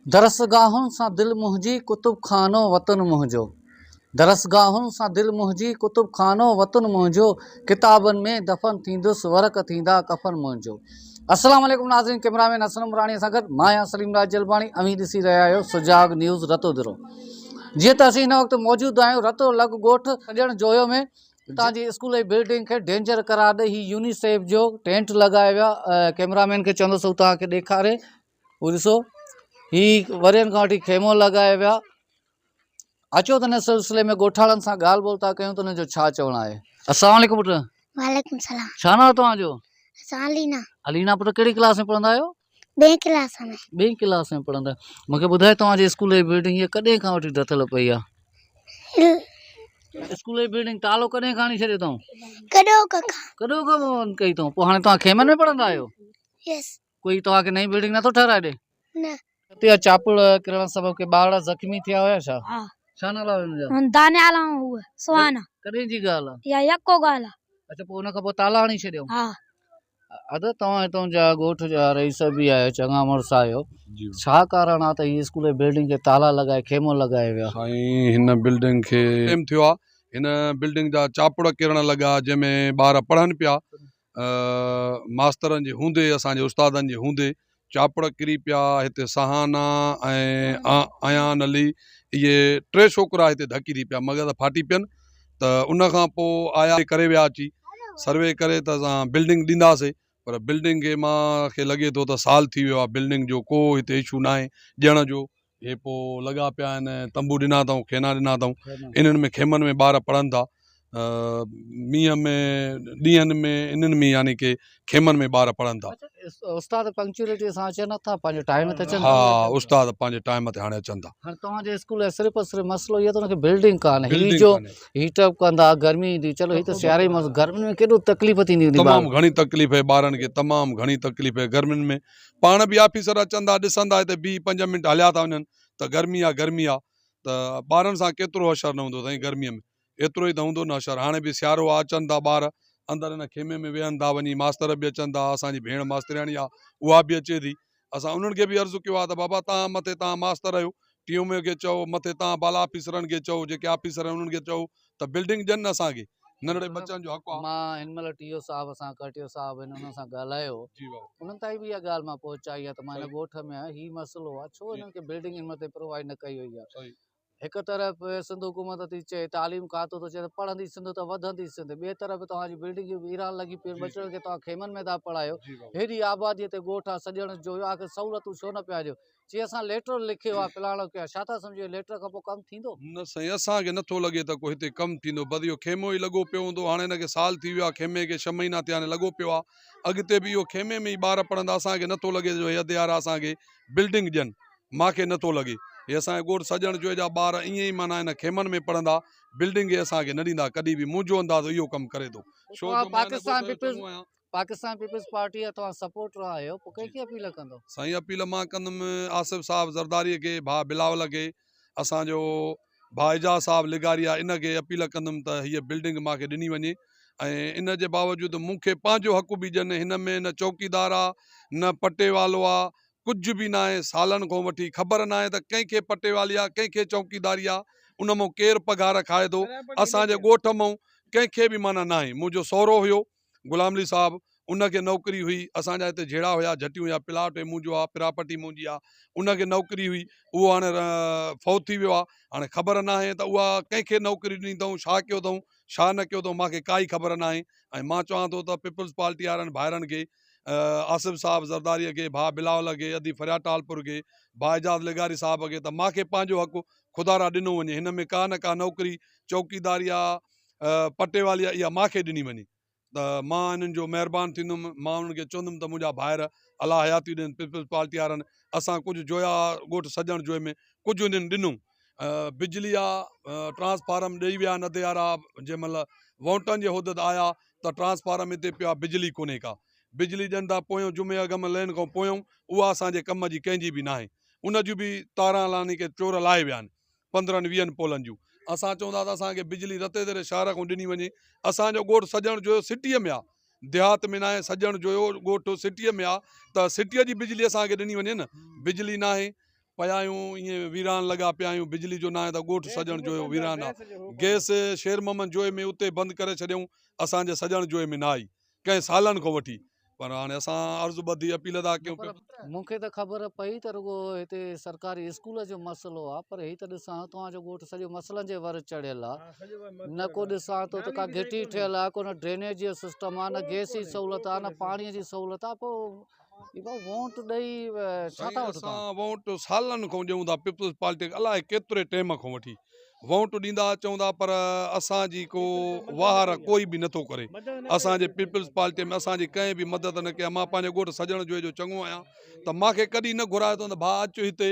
درسگاهن سان دل منهنجي ڪتب خانو وطن منهنجو درسگاهن سان دل منهنجي ڪتب خانو وطن منهنجو ڪتابن ۾ دفن ٿيندس ورق ٿيندا ڪفن منهنجو السلام عليڪم ناظرين ڪيمرا مين حسن عمراڻي سان گڏ مان آهيان سليم راج جلباڻي اوهين ڏسي رهيا آهيو سجاڳ نيوز رتو درو جيئن ته اسين هن وقت موجود آهيون رتو لڳ ڳوٺ سڄڻ جويو ۾ اتان جي اسڪول جي بلڊنگ کي ڊينجر قرار ڏئي هي يونيسيف جو ٽينٽ لڳايو ويو ڪيمرا مين کي چوندس هو توهان کي ڏيکاري هو ڏسو هي ورهين کان وٺي خيمو لڳائي ويا اچو ته هن سلسلي ۾ ڳوٺاڻن سان ڳالهه ٻولهه ٿا ڪيون ته انهن جو ڇا چوڻ آهي السلام عليڪم پٽ وعليڪم السلام ڇا ناء توهان جو اسان علينا علينا پٽ ڪهڙي ڪلاس ۾ پڙهندا آهيو ٻين ڪلاس ۾ ٻين ڪلاس ۾ پڙهندا آهيو مونکي ٻڌايو توهان جي اسڪول جي بلڊنگ هي ڪڏهن کان وٺي ڊٿل پئي آهي اسڪول جي بلڊنگ تالو ڪڏهن کان هڻي ڇڏيو اٿئون ڪڏهو کان ڪڏهو کان بند ڪئي اٿئون پوء هاڻي توهان خيمن ۾ پڙهندا آهيو يس ڪوئي توهان کي نئين بلڊنگ نٿو ٺهرائي ڏي؟ نه. اتي اها چاپڙ ڪرڻ سبب ڪي ٻارڙا زخمي ٿيا هيا ڇا؟ ها. ڇا نالا هيا هن جا؟ هن دانيال ۽ هوء سهانا. ڪڏهن جي ڳالهه آ؟ اها يڪو ڳالهه آ. اڇا پوء ان کان پوء تالا هڻي ڇڏيائون؟ ها. ادا توهان هتان جا ڳوٺ جا رئيس به آهيو چڱا مڙس آهيو ڇا ڪارڻ آ ته هي اسڪول جي بلڊنگ کي تالا لڳائي خيمو لڳائي ويا؟ سائين هن بلڊنگ کي ٽيم ٿيو آ هن بلڊنگ جا چاپڙ ڪرڻ لڳا جنهن ۾ ٻار پڙهن پيا ماسترن جي هوندي اسان جي استادن جي هوندي چاپڙ ڪري پيا هتي سهانا ۽ ايان علي اهي ٽي ڇوڪرا هتي ڌڪي ٿي پيا مگر ڦاٽي پين ته ان کان پوء آيا ڪري ويا اچي سروي ڪري ته اسان بلڊنگ ڏينداسي پر بلڊنگ کي مان کي لڳي ٿو ته سال ٿي ويو آ بلڊنگ جو ڪو هتي اشو ناهي ڏيڻ جو اهي پوء لڳا پيا آهن تنبو ڏنا اٿائون خينا ڏنا اٿائون انهن ۾ خيمن ۾ ٻار پڙهن ٿا مينهن ۾ ڏينهن ۾ انهن ۾ يعني ڪي خيمن ۾ ٻار پڙهن ٿا استاد پنڪچوئلٽي سان اچن ٿا پنهنجي ٽائيم تي اچن ها استاد پنهنجي ٽائيم تي هاڻي اچن ٿا هاڻي توهان جي اسڪول صرف صرف مسئلو اهو ته بلڊنگ ڪانه هي جو هيٽ اپ ڪندا گرمي ايندي چلو هي ته سياري ۾ گرمي ۾ ڪيڏو تڪليف ٿيندي هوندي تمام گهڻي تڪليف هي ٻارن کي تمام گهڻي تڪليف هي گرمين ۾ پاڻ به آفيسر اچن ٿا ڏسن ٿا هتي بيهي پنج منٽ هليا ٿا وڃن ته گرمي آ گرمي آ ته ٻارن سان ڪيترو حشر نه هوندو سائين گرمي ۾ ايترو ئي ته هوندو نه حشر هاڻي به سيارو آ اچن ٿا ٻار اندر هن خيمي ۾ ويهن ٿا وڃي ماستر به اچن ٿا اسان جي ڀيڻ ماسترياڻي آ اها به اچي ٿي اسان انهن کي به عرض ڪيو آ ته بابا توهان مٿي توهان ماستر آهيو ٽي ايم اي کي چئو مٿي تان بالا آفيسرن کي چئو جيڪي آفيسر آهن انهن کي چئو ته بلڊنگ ڏين اسان کي ننڍڙي بچن جو حق آهي مان هن مهل ٽي او صاحب سان ڪرٽيو صاحب هن انهن سان ڳالهايو انهن تائين به اها ڳالهه مان پهچائي آهي ته مان هن ڳوٺ ۾ آهيان هي مسئلو آهي ڇو انهن کي بلڊنگ هن مهل تائين پرووائڊ نه ڪئي وئي آهي هڪ طرف سنڌ حڪومت ٿي چئي تعليم کاتو ٿو چئي ته پڙهندي سنڌ ته وڌندي سنڌ ٻئي طرف توهان جي بلڊنگيون ويران لڳي پيون ٻچڙن کي توهان خيمن ۾ ٿا پڙهايو هيڏي آباديء تي ڳوٺ آهي سڄڻ جو آخر سهولتون ڇو نه پيا ڏيو چي اسان ليٽر لکيو آ پلاڻو ڪيو آ ڇا ٿا سمجهو اهي ليٽر کان پوء ڪم ٿيندو؟ نه سائين اسان کي نٿو لڳي ته ڪو هتي ڪم ٿيندو بس اهو خيمو ئي لڳو پيو هوندو هاڻي هن کي سال ٿي ويو آ خيمي کي ڇهه مهينا ٿيا آهن لڳو پيو آ اڳتي به اهو خيمي ۾ ئي ٻار پڙهندا اسان کي نٿو لڳي ته جو هي اديارا اسان کي بلڊنگ ڏين ماکي نٿو لڳي هي اسان جا ڳوٺ سڄڻ جوئي جا ٻار ائين ئي معنيٰ هن خيمن ۾ پڙهندا بلڊنگ هي اسان کي نه ڏيندا ڪڏهن به منهنجو اندازو اهو ڪم ڪري ٿو ڇو جو مان هن ڳوٺ جو چڱو آهيان. پاڪستان پيپلز پارٽيء جا توهان سپورٽر آهيو پوء ڪنهن کي اپيل ڪندو؟ سائين اپيل مان ڪندم آصف صاحب زرداريء کي، ڀاء بلاول کي، اسان جو ڀاء اعجاز صاحب لغاريا ان کي اپيل ڪندم ته هيء بلڊنگ مان کي ڏني وڃي ۽ ان جي باوجود مون کي پنهنجو حق به ڏين هن ۾ نه چوڪيدار آ نه پٽي والو آ ڪجهه به ناهي سالن کون وٺي خبر ناهي ته ڪنهن کي پٽي والي آ ڪنهن کي چوڪيداري آ ان مون ڪير پگهار کائي ٿو اسان جي ڳوٺ مون ڪنهن کي به معنيٰ ناهي منهنجو سهرو هيو غلام علي صاحب ان کي نوڪري هئي اسان جا هتي جهيڙا هيا جهٽيون هيا پلاٽ هي منهنجو آ پراپرٽي منهنجي آ ان کي نوڪري هئي اهو هاڻي فوت ٿي ويو آ هاڻي خبر ناهي ته اها ڪنهن کي نوڪري ڏني اٿئون ڇا ڪيو اٿئون ڇا نه ڪيو اٿئون مانکي ڪائي خبر ناهي ۽ مان چوان ٿو ته پيپلز پارٽي وارن ڀائرن کي آصف صاحب زرداريء کي ڀاء بلاول کي ادي فرياد ٽالپور کي ڀاء اعجاز لغاري صاحب کي ته مانکي پنهنجو حق خدا را ڏنو وڃي هن ۾ ڪا نه ڪا نوڪري چوڪيداري آ پٽي والي آ اها ماکي ڏني وڃي ته مان انهن جو مهربان ٿيندم مان انهن کي چوندم ته منهنجا ڀائر الله حياتي ڏين پيپلز پارٽي وارن اسان ڪجهه جويا ڳوٺ سڄڻ جوئي ۾ ڪجهه انهن ڏنو بجلي آ ٽرانسفارم ڏئي ويا ندي وارا جنهن مهل وونٽن جي حدت آيا ته ٽرانسفارم هتي پيو آ بجلي ڪونهي ڪا بجلي ڏين ٿا پويون جمعي اڳ ۾ لين کان پويون اها اسان جي ڪم جي ڪنهن جي به ناهي ان جون به تاران لاني ڪي چور لائي ويا آهن پندرهن ويهن پولن جون اسان چون ٿا ته اسان کي بجلي رتي تري شهر کان ڏني وڃي اسان جو ڳوٺ سڄڻ جويو سٽيء ۾ آ ديهات ۾ ناهي سڄڻ جويو ڳوٺ سٽيء ۾ آ ته سٽيء جي بجلي اسان کي ڏني وڃي نه بجلي ناهي پيا آهيون ائين ويران لڳا پيا آهيون بجلي جو ناهي ته ڳوٺ سڄڻ جويو ويران آ گئس شير محمد جويي ۾ اتي بند ڪري ڇڏيائون اسان جي سڄڻ جويي ۾ نه آئي ڪئين سالن کان وٺي پر هاڻي اسان عرض ٻڌي اپيل ادا ڪيون پر مون کي ته خبر پئي ته رڳو هتي سرڪاري اسڪول جو مسئلو آ پر هي ته ڏسان ٿو توهان جو ڳوٺ سڄو مسئلن جي ور چڙهيل آ نه ڪو ڏسان ٿو ته ڪا گهٽي ٺهيل آ ڪو نه ڊرينيج جو سسٽم آ نه گئس جي سهولت آ نه پاڻي جي سهولت آ پوء سائين اسان وونٽ سالن کان ڏيون ٿا پيپلز پارٽي کي الائي ڪيتري ٽيم کان وٺي وونٽ ڏيندا اچون ٿا پر اسان جي ڪو واهر ڪوئي به نٿو ڪري اسان جي پيپلز پارٽي ۾ اسان جي ڪنهن به مدد نه ڪئي مان پنهنجي ڳوٺ سڄڻ جوئي جو چڱو آهيان ته مانکي ڪڏهن نه گهرايو اٿن ته ڀاء اچ هتي